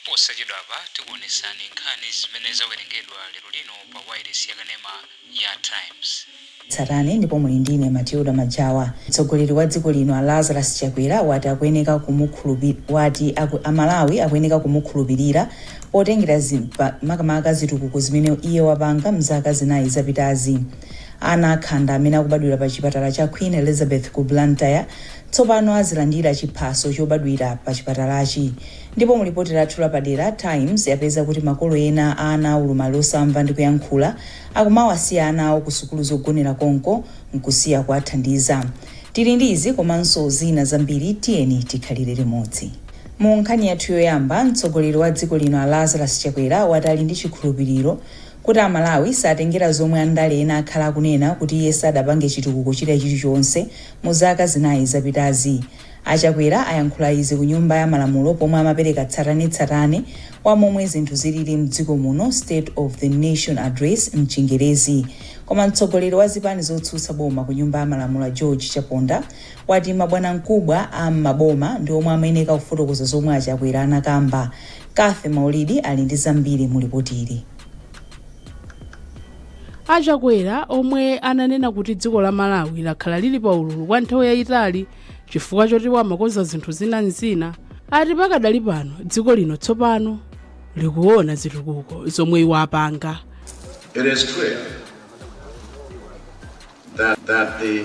Posachedwapa tikuonetsani nkhani zimene zawerengedwa lero lino pa wailesi yakanema ya Times. Tsatani ndipo muli ndine Matilda Majawa. Mtsogoleri wa dziko lino a Lazarus Chakwera wati akuyeneka kumukhulupir wati a Malawi akuyeneka kumukhulupilira potengera za makamaka zitukuko zimene iye wapanga mzaka zinayi zapitazi. Ana akhanda amene akubadwira pa chipatala cha Queen Elizabeth ku Blantyre Tsopano azilandira chiphaso chobadwira pa chipatalachi. Ndipo mu lipoti lathu lapadera, Times yapeza kuti makolo ena a ana a ulumali osamva ndi kuyankhula akumawasiya ana awo ku sukulu zogonera konko nkusiya kuwathandiza. Tili ndi izi komanso zina zambiri tiyeni tikhalire limodzi. Mu nkhani yathu yoyamba, mtsogoleri wa dziko lino a Lazarus Chakwera wati ali ndi chikhulupiliro kuti a Malawi satengera zomwe andale ena akhala akunena kuti iye sadapange chitukuko china chilichonse Mu zaka zinayi zapitazi, a Chakwera ayankhula izi ku nyumba ya malamulo pomwe amapereka tsatanetsatane wa momwe zinthu zilili mdziko muno, State of the Nation Address mchingerezi. Koma mtsogoleri wa zipani zotsutsa boma ku nyumba ya malamulo a George Chaponda wati mabwanamkubwa a m'maboma ndi omwe amayeneka kufotokoza zomwe a Chakwera anakamba. Cathy Maulidi ali ndi zambiri mu lipotili. A Chakwera omwe ananena kuti dziko la Malawi lakhala lili pa ululu kwa nthawi yayitali chifukwa choti iwo amakonza zinthu zina ndi zina ati pakadali pano dziko lino tsopano likuona zitukuko zomwe iwo apanga. It is clear that, that the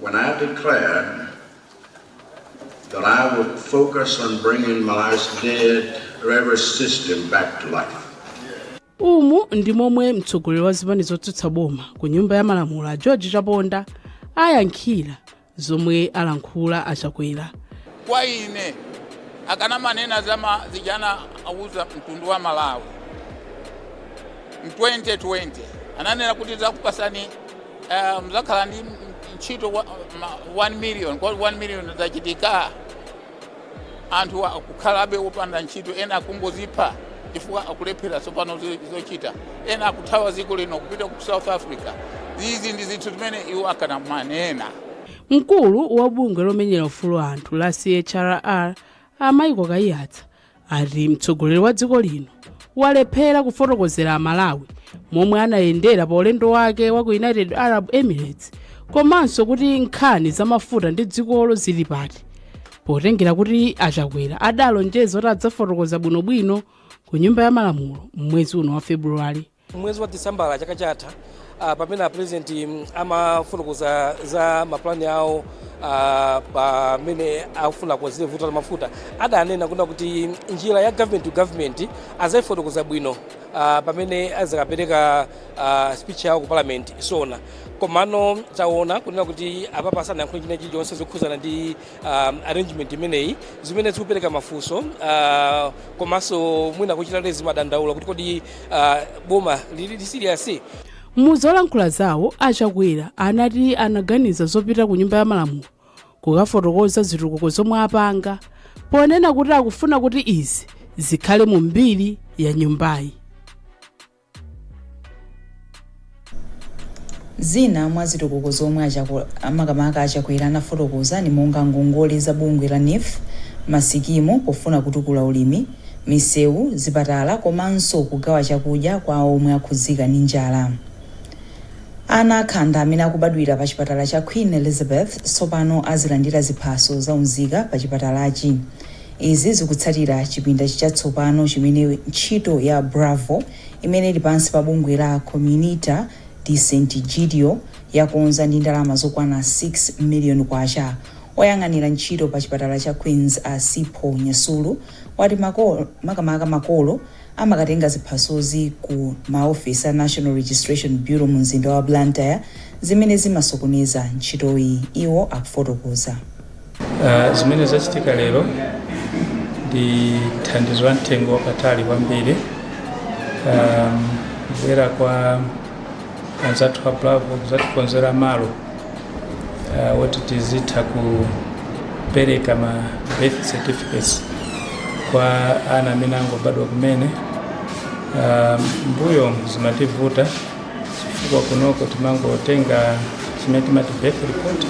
When I declared that I would focus on bringing Malawi's dead railway system back to life. umu ndi momwe mtsogoleri wa zipani zotsutsa boma ku nyumba ya malamulo a george chaponda ayankhira zomwe alankhula achakwera kwa ine akanamanena za ma- zija anauza mtundu wa malawi mu 2020 ananena kuti ndzakupatsani Eh, mudzakhala ndi ntchito wa- ma- 1 million kodi 1 million zachitika anthu akukhalabe opanda ntchito ena akungozipha chifukwa akulephera tsopano zo- zochita ena akuthawa dziko lino kupita ku south africa izi ndi zinthu zimene iwo akanamanena mkulu wa bungwe lomenyera ufulu wa anthu la chrr a michael kayiyatsa ati mtsogoleri wa dziko lino walephera kufotokozera amalawi momwe anayendera pa ulendo wake wa ku united arab emirates komanso kuti nkhani za mafuta ndi dzikolo zili pati potengera kuti achakwera adalonjeza kuti adzafotokoza bwinobwino ku nyumba ya malamulo m'mwezi uno wa februwale Mwezi wa Disembala chaka chatha ah, pamene apurezidenti mm, amafotokoza za mapulani awo a, m'mene akufuna kukonzera vuto la mafuta adanena kunena kuti njira ya government to government azayifotokoza bwino ah, pamene azakapereka ah, speech yawo ku parliament SONA komano taona kunena kuti apapa sanayankhule china chilichonse zokhuzana ndi uh, arrangement imeneyi zimene zikupereka mafunso uh, komanso mwina kuchitanso zimadandaulitsa kuti kodi uh, boma lili serious muzolankhula zawo a Chakwera anati anaganiza zopita ku nyumba ya malamulo kukafotokoza zitukuko zomwe apanga ponena kuti akufuna kuti izi zikhale mu mbiri ya nyumbayi Zina mwa zitukuko zomwe makamaka a Chakwera anafotokoza ndi monga ngongole za bungwe la NEEF, ma sikimu pofuna kutukula ulimi, misewu, zipatala komanso kugawa chakudya kwa omwe akhudzika ndi njala. Ana akhanda amene akubadwira pa chipatala cha Queen Elizabeth tsopano azilandira ziphaso za unzika pa chipatalachi. Izi zikutsatira chipinda chatsopano chimene ntchito ya BRAVO imene ili pansi pa bungwe la Comunità di Sant'Egidio yakonza ndi ndalama zokwana K6 million. Oyang'anira ntchito pa chipatala cha Queens a Sipho Nyasulu wati makamaka makolo amakatenga ziphasozi ku ma ofesi a National Registration Bureau mu mzinda wa Blantyre zimene zimasokoneza ntchitoyi. Iwo akufotokoza. Uh, zimene zachitika lero ndi thandizo la mtengo wapatali kwambiri um, kubwera kwa anzathu a bravo kuzatikonzera malo uh, woti tizitha kupereka ma birth certificates kwa ana amene angobadwa kumene um, m'mbuyo zimativuta chifukwa kunoko timangotenga chimene timati birth report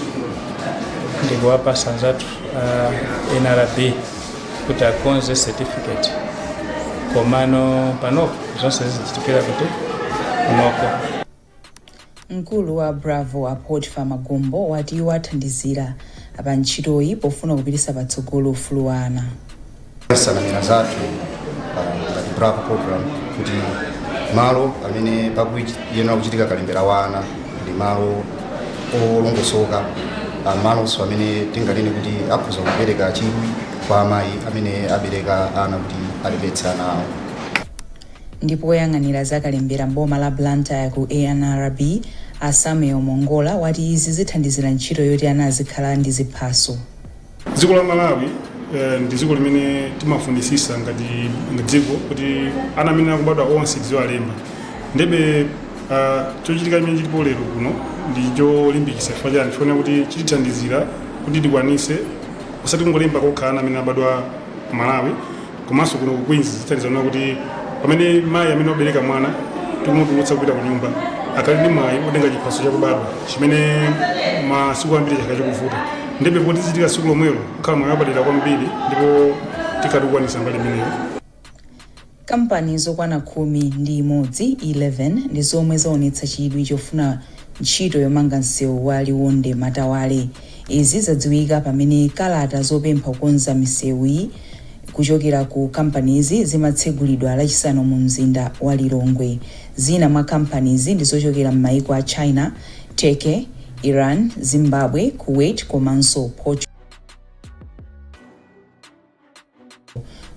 ndikuwapasa anzathu a nrb kuti akonze certificate komano panopo zonse zizichitikira kuti kunoko mkulu wa bravo a Potiphar magombo wati iwo athandizira pa ntchitoyi pofuna kupititsa patsogolo ufulu wa ana nsanamira zathu ngati bravo program kuti malo amene pakuyenera kuchitika kalembera wa ana ndi malo olongosoka ah, malonso amene tinganene kuti akhoza kupereka chidwi kwa amayi amene abereka ana kuti alembetse ana awo ndipo woyang'anira zakalembera m'boma la blantyre ku NRB a samuel mongola wati izi zithandizira ntchito yoti ana azikhala ndi ziphaso dziko la malawi eh, ndi dziko limene timafunisisa ngati ngati dziko kuti ana amene akubadwa onse tiziwalemba ndiye ah, chochitika chimene chilipo lero kuno ndi cholimbikisa chifukwa chani chifukwa kuti chitithandizira kuti tikwanise osati kungolemba kokha ana amene abadwa ku malawi Komanso kuno ku Queens zithandizanso kuti pamene mayi amene wabereka mwana tikumutulutsa kupita ku nyumba akhale ndi mwayi wotenga chiphaso chakubadwa chimene masiku ambiri chakhala chikuvuta ndiye poti zichitika tsiku lomwelo kukhala mwayi wapadera kwambiri ndipo tikhatikukwanisa mbali imeneyo Kampani zokwana khumi ndi imodzi 11 ndi zomwe zaonetsa chidwi chofuna ntchito yomanga msewu wa Liwonde Matawale. Izi zadziwika pamene kalata zopempha kukonza misewuyi kuchokera ku kampanizi zimatsegulidwa lachisanu mu mzinda wa Lilongwe. Zina mwa kampanizi ndi zochokera m'mayiko a China, Turkey, Iran, Zimbabwe, Kuwait komanso Portugal.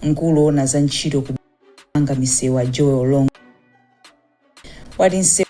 Mkulu owona za ntchito kumanga misewu a Joel Longwe wati nsewu.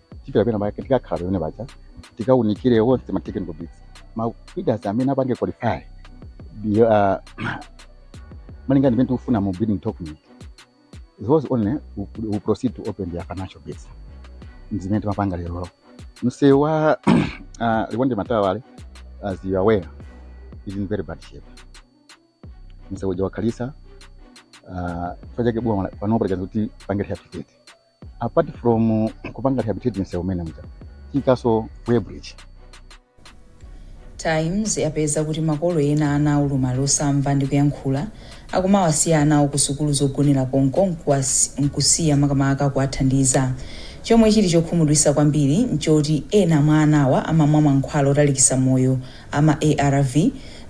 tipita pena pake tikakhala pamene paja tikaunikire onse ma technical bids ma bidders amene apange qualify ndi uh, malinga ndi pamene tikufuna mu bidding document those only who, who proceed to open their financial bids mzimene timapanga lero msewu wa uh, liwonde matawale as you are aware is in very bad shape msewu uja wakhalisa uh, chifukwa chake boma panopa likuti tipange rehabilitate apart from kupanga rehabilitate msewu umene uja tiikaso weighbridge times yapeza kuti makolo ena ana aulumali osamva ndi kuyankhula akumawasiya ana awo ku sukulu zogonera konko nkusiya makamaka kuwathandiza chomwe chili chokhumudwisa kwambiri nchoti ena mwa anawa amamwa mankhwala otalikisa moyo a ma arv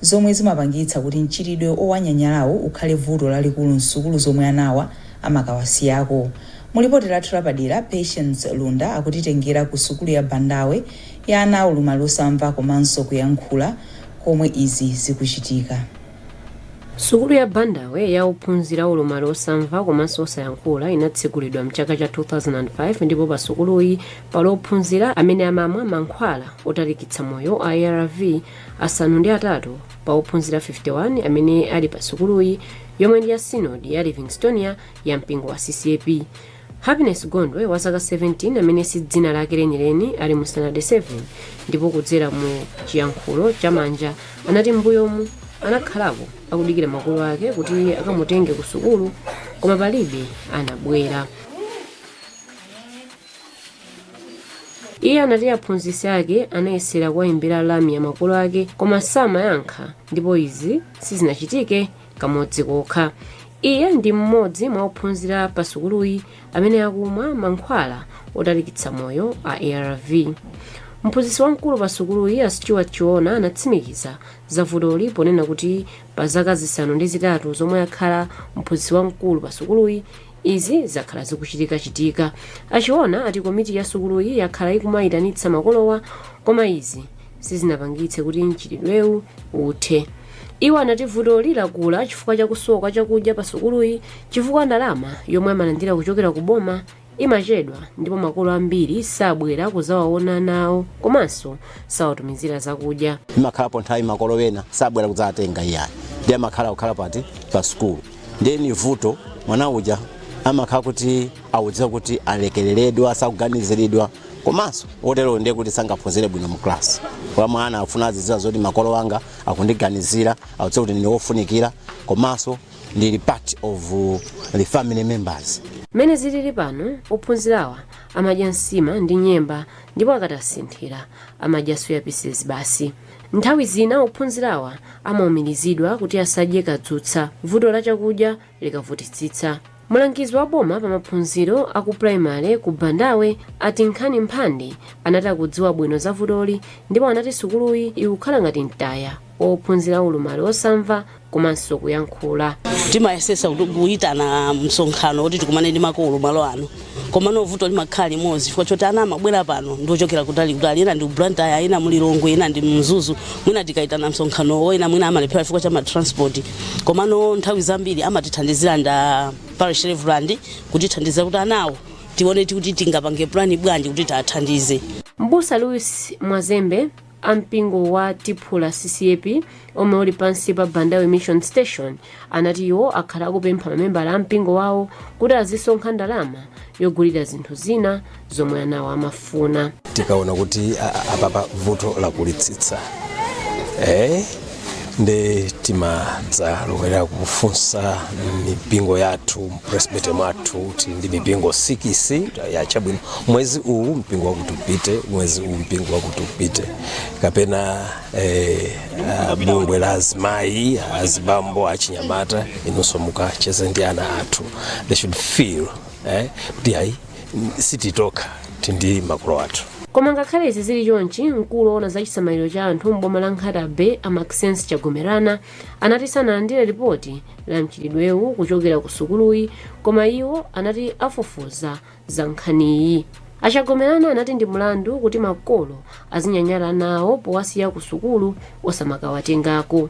zomwe zimapangitsa kuti mchitidwe owanyanyalawu ukhale vuto lalikulu msukulu zomwe anawa amakawasiyako. Mu lipoti lathu lapadera, Patience Lunda akutitengera ku sukulu ya Bandawe ya ana aulumali osamva komanso kuyankhula komwe izi zikuchitika. Sukulu ya Bandawe ya ophunzira aulumali osamva komanso osayankhula inatsegulidwa mchaka cha 2005 ndipo pa sukuluyi pali ophunzira amene amamwa mankhwala otalikitsa moyo a arv asanu ndi atatu pa ophunzira 51 amene ali pa sukuluyi yomwe ndi ya synod ya Livingstonia ya mpingo wa CCAP. Happiness Gondwe wa zaka 17 amene si dzina lake lenileni ali mu Standard 7 ndipo kudzera mu chiyankhulo cha manja anati m'mbuyomu anakhalapo akudikira makolo ake kuti akamutenge ku sukulu koma palibe anabwera. Iye anati aphunzitsi ake anayesera kuwayimbira lamya makolo ake koma samayankha ndipo izi sizinachitike kamodzi kokha iye ndi mmodzi mwa ophunzira pa sukuluyi amene akumwa mankhwala otalikitsa moyo a arv mphunzitsi wamkulu pa sukuluyi a stewart chiona anatsimikiza za vutoli ponena kuti pa zaka zisanu ndi zitatu zomwe akhala mphunzitsi wamkulu pa sukuluyi izi zakhala zikuchitikachitika a Chiona ati komiti ya sukuluyi yakhala ikumayitanitsa makolowa koma izi sizinapangitse kuti mchitidwewu uthe. Iwo anati vutoli lakula chifukwa cha kusowa chakudya pa sukuluyi chifukwa ndalama yomwe amalandira kuchokera ku boma imachedwa ndipo makolo ambiri sabwera kuzawaona anawo komanso sawatumizira zakudya. imakhalapo nthawi makolo ena sabwera kudzawatenga iyayi ndiye amakhala kukhala pati pa sukulu ndiye ni vuto mwana uja amakhala kuti audziwa kuti alekereredwa sakuganiziridwa komanso otero ndiye kuti sangaphunzire bwino mu class kwa mwana afuna azidziwa zoti makolo anga akundiganizira audziwa kuti ndine wofunikira komanso ndili part of uh, the family members mmene zilili pano ophunzirawa amadya nsima ndi nyemba ndipo akatasinthira amadya soya pieces basi Nthawi zina ophunzirawa amaumirizidwa kuti asadye kadzutsa vuto la chakudya likavutitsitsa. Mlangizi wa boma pa maphunziro a ku primary ku Bandawe a Tinkhani Mphande anati akudziwa bwino za vutoli ndipo anati sukuluyi ikukhala ngati mtaya wa ophunzira aulumali osamva komanso kuyankhula. timayesesa kuti kuyitana msonkhano kuti tikumane ndi makolo malo ano komano vuto limakhala limodzi chifukwa choti ana amabwera pano ndiochokera kutali kutali ena ndi blantyre ena mulilongwe ena ndi mzuzu mwina tikayitana msonkhanowo ena mwina amalephera chifukwa cha matransport komano nthawi zambiri amatithandizira ndi a parish reverend kutithandizira kuti anawo tione kuti tingapange plani bwanji kuti tiwathandize Mbusa Louis Mwazembe a mpingo wa Thipula CCAP omwe uli pansi pa Bandawe Mission Station anati iwo akhala akupempha mamembala a mpingo wawo kuti azisonkha ndalama yogulira zinthu zina zomwe anawo amafuna. tikaona kuti a- a- apapa vuto lakulitsitsa eh? nde timadzalowera kufunsa mipingo yathu mpresbytery mwathu tili ndi mipingo sikisi yachabwino mwezi uwu mpingo wakuti upite mwezi uwu mpingo wakuti upite kapena eh, ah, bungwe la azimayi azibambo achinyamata inunso mukacheze ndi ana athu they should feel eh, kuti ayi sitili tokha tili ndi makolo athu koma ngakhale izi zili chonchi mkulu woona za chisamaliro cha anthu m'boma la nkhata bay a maxence chagomerana anati sanalandire lipoti la mchitidwewu kuchokera ku sukuluyi koma iwo anati afufuza za nkhaniyi achagomerana anati ndi mlandu kuti makolo azinyanyala ana awo powasiya ku sukulu osamakawatengako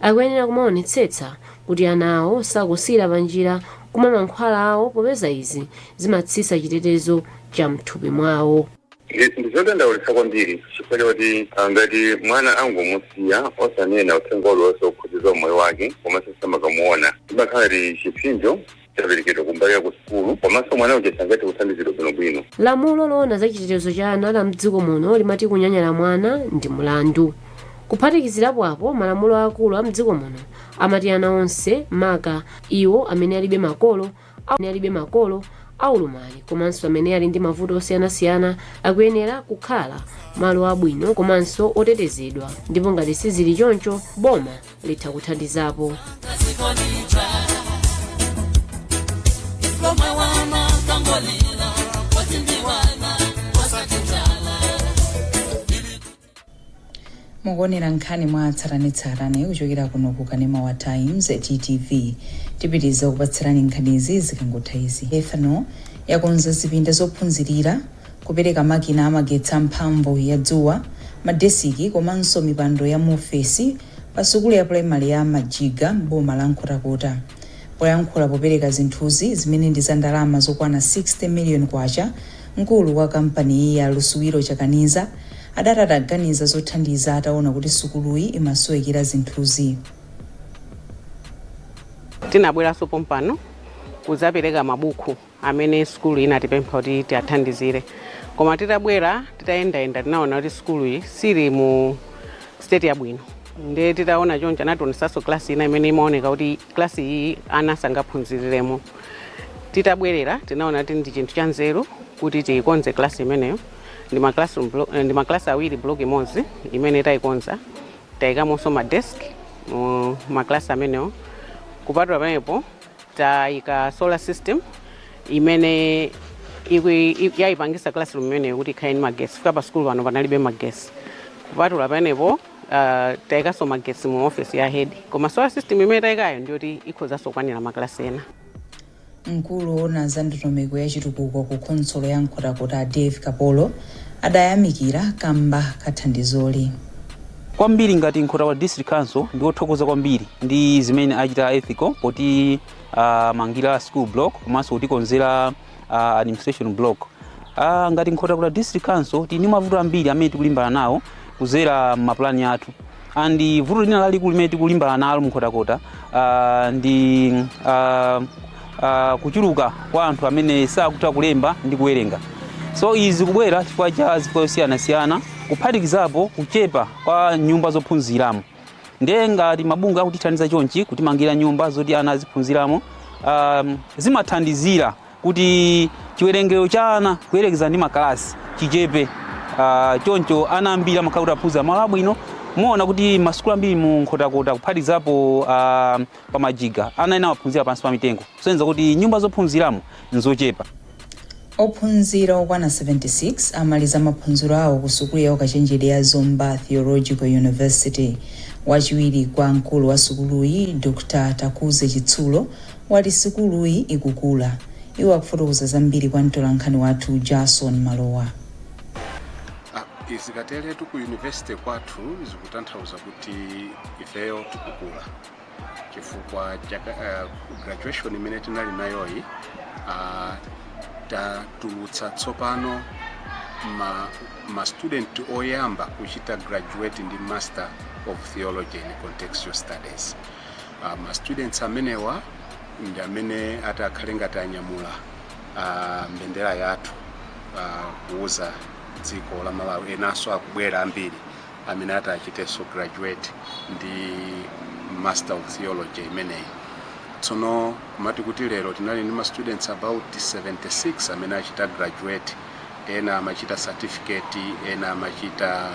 Akuyenera kumaonetsetsa kuti ana awo sakusiyira panjira kumwa mankhwala awo popeza izi zimatsitsa chitetezo cha mthupi mwawo. Ndi zodandaulitsa kwambiri chifukwa chakuti ngati mwana angomusiya osanena uthenga uliwonse wokhudza za umoyo wake komanso osamakamuona, zimakhala ngati chipsinjo chaperekedwa kumbali ya kusukulu komanso mwana uja sangathe kuthandizidwa bwinobwino. Lamulo loona za chitetezo cha ana la m'dziko muno limati kunyanyala mwana ndi mlandu. Kuphatikizirapo apo, malamulo aakulu a m'dziko muno amati ana onse, maka iwo amene alibe makolo, amene alibe makolo aulumali komanso amene ali ndi mavuto osiyanasiyana akuyenera kukhala malo abwino komanso otetezedwa ndipo ngati sizili choncho boma litha kuthandizapo mukuonera nkhani mwatsatanetsatane kuchokera kuno ku kanema wa times ttv tipitiriza kukupatsirani nkhanizi zikangotha izi ethanol yakonza zipinda zophunzirira Kupereka makina amagetsi a mphamvu ya dzuwa, madesiki komanso mipando ya muofesi pa sukulu ya pulayimale ya Majiga m'boma la Nkhotakota. Poyankhula popereka zinthuzi, zimene ndi za ndalama zokwana 60 miliyoni kwacha, mkulu wa kampaniyi a Lusubilo Chakaniza adati adaganiza zothandiza ataona kuti sukuluyi imasowekera zinthuzi. Tinabweranso pompano kudzapereka mabuku. amene sukulu inatipempha kuti tiwathandizire koma titabwera titayendayenda tinaona kuti sukulu iyi sili mu state yabwino nde titaona choncho anationesanso klasi ina imene imaoneka kuti klasi iyi ana sangaphunziriremo titabwerera tinaona kuti ndi chinthu cha nzeru kuti tiyikonze klasi imeneyo ndi ma classroom blo- eh, ndi ma class awiri block imodzi imene tayikonza tayikamonso ma desk mu ma class amenewo kupatula pamenepo Tayika solar system imene iku- i- yayipangisa classroom imeneyo kuti ikhale ndi magesi chifukwa pa sukulu pano panalibe magesi kupatula pamenepo uh, tayikanso magesi mu office ya head koma solar system imene tayikayo ndiyoti ikhozanso kukwanira maklasi ena mkulu woona za ndondomeko ya chitukuko ku khonsolo ya nkhotakota dave kapolo adayamikira kamba kathandizoli kwambiri ngati nkhotakota district council ndife othokoza kwambiri ndi zimene achita ethical potimangira school block komanso kutikonzera uh, administration block uh, ngati nkhotakota district council tili ndi mavuto ambiri amene tikulimbana nawo kudzera m'mapulani athu and vuto lina lalikulu limene tikulimbana nalo mu nkhotakota uh, ndi uh, uh, kuchuluka kwa anthu amene sakutha kulemba ndi kuwerenga so izi zikubwera chifukwa cha zifukwa zosiyanasiyana kuphatikizapo kuchepa kwa nyumba zophunziramo ndiye ngati mabungwe akutithandiza chonchi kutimangira nyumba zoti ana aziphunziramo um, zimathandizira kuti chiwerengero cha ana kuyerekeza ndi makalasi chichepe uh, choncho ana ambiri amakhala kuti aphunzira malo abwino muona kuti masukulu ambiri mu nkhotakota kuphatikizapo uh, pa majiga. Ana ena amaphunzira pansi pa mitengo, kusonyeza kuti nyumba zophunziramo n'zochepa. Ophunzira okwana 76 amaliza maphunziro awo ku sukulu ya ukachenjede ya Zomba Theological University. Wachiwiri kwa mkulu wa sukuluyi, Dr Takuze Chitsulo, wati sukuluyi ikukula. Iwo akufotokoza zambiri kwa mtolankhani wathu Jason Malowa. Zikateretu ku university kwathu zikutanthauza kuti ifeyo tikukula. chifukwa uh, graduation imene tinali nayoyi uh, tatulutsa tsopano ma, ma student oyamba kuchita graduate ndi master of theology and contextual studies uh, ma students amenewa ndi amene ati akhale ngati anyamula uh, mbendera yathu uh, kuuza dziko la malawi enanso akubwera ambiri amene ati achitenso graduate ndi Master of Theology imeneyi. Tsono kumati kuti lero tinali ndi ma students about 76 amene achita graduate, ena amachita certificate, ena amachita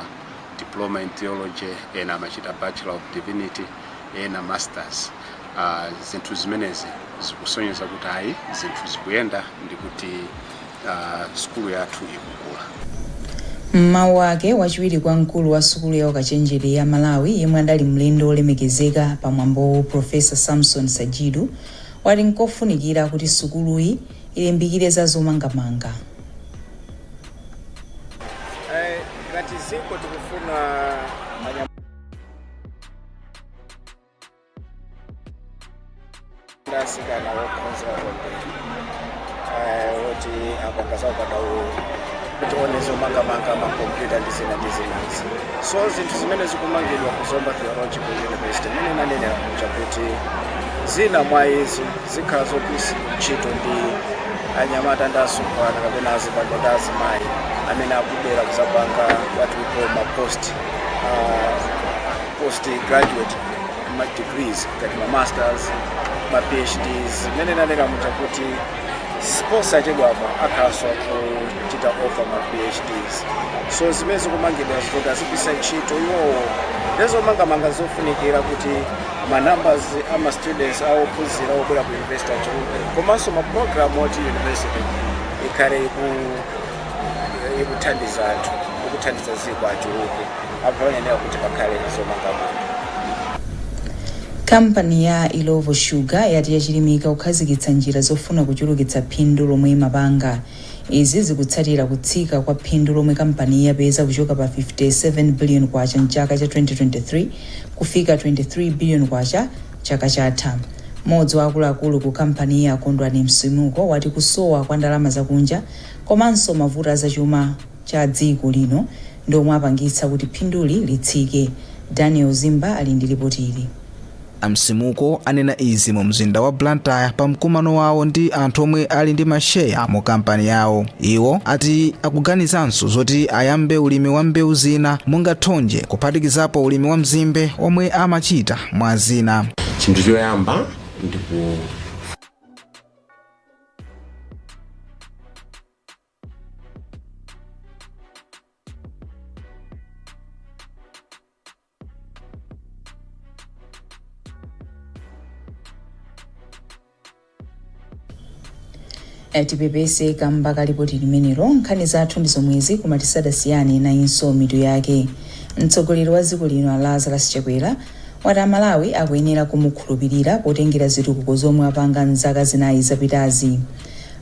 diploma in theology, ena amachita Bachelor of Divinity, ena masters. Ah, zinthu zimenezi zikusonyeza kuti ayi zinthu zikuyenda ndi kuti a sukulu yathu ikukula. M'mawu ake, wachiwiri kwa mkulu wa sukulu ya ukachenjede ya Malawi yemwe adali mlendo wolemekezeka pa mwambowu Professor Samson Sajidu wati nkofunikira kuti sukuluyi ilimbikire za zomangamanga. Ngati dziko tikufuna ndasikana okhonza kwambiri oti apanga za ukadaulo kuti one zomangamanga makompyuta ndi zina ndi zinazi so zinthu zimene zikumangidwa ku zomba theological university mmene nanenera kuja kuti zina mwa izi zikhala zogwiritsidwa ntchito ndi anyamata ndi asungwana kapena azibambo ndi azimayi amene akubwera kuzapanga what we call ma post uh, post graduate ma degrees ngati ma masters ma phds mmene nanenera muja kuti siposachedwapa akhalanso akuchita offer ma phds so zimene zikumangidwa zoti azigwiritsa ntchito iwowo ndezomangamanga zofunikira kuti ma numbers a ma students a ophunzira obwera ku university achuluke komanso ma program oti university ikhale iku ikuthandiza anthu ikuthandiza ziko achuluke Kampani ya Illovo Sugar yati yachilimika kukhazikitsa njira zofuna kuchulukitsa phindu lomwe imapanga. Izi zikutsatira kutsika kwa phindu lomwe kampaniyi yapeza kuchoka pa K57 billion m'chaka cha 2023 kufika K23 billion chaka chatha. Modzi wa akuluakulu ku kampaniyi a Kondwani Msimuko wati kusowa kwa ndalama zakunja komanso mavuto azachuma, cha dziko lino ndi omwe apangitsa kuti phinduli litsike. Daniel Zimba ali ndi lipoti ili. A Msimuko anena izi mu mzinda wa Blantyre pa mkumano wawo ndi anthu omwe ali ndi ma sheya mu kampani yawo. Iwo ati akuganizanso zoti ayambe ulimi wa mbewu zina monga thonje kuphatikizapo ulimi wa mzimbe omwe amachita mwa zina. Chinthu choyamba ndi ku. Eh, tipepese kamba ka lipoti limenelo nkhani zathu ndi zomwezi koma tisadasiyane nayinso mitu yake mtsogoleri wa dziko lino a lazarus chakwera wati amalawi akuyenera kumukhulupirira potengera zitukuko zomwe apanga mzaka zinayi zapitazi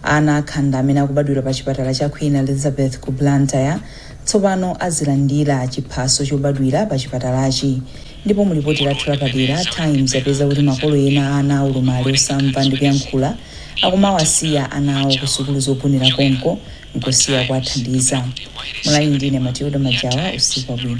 Ana akhanda amene akubadwira pa chipatala cha Queen Elizabeth ku Blantyre tsopano azilandira chiphaso chobadwira pa chipatalachi ndipo mu lipoti lathu lapadera, Times yapeza kuti makolo ena a ana a ulumali osamva ndi kuyankhula akumawasiya ana awo ku sukulu zogonera konko nkusiya kuwathandiza. Munali ndi ine Matilda Majawa, usiku wabwino.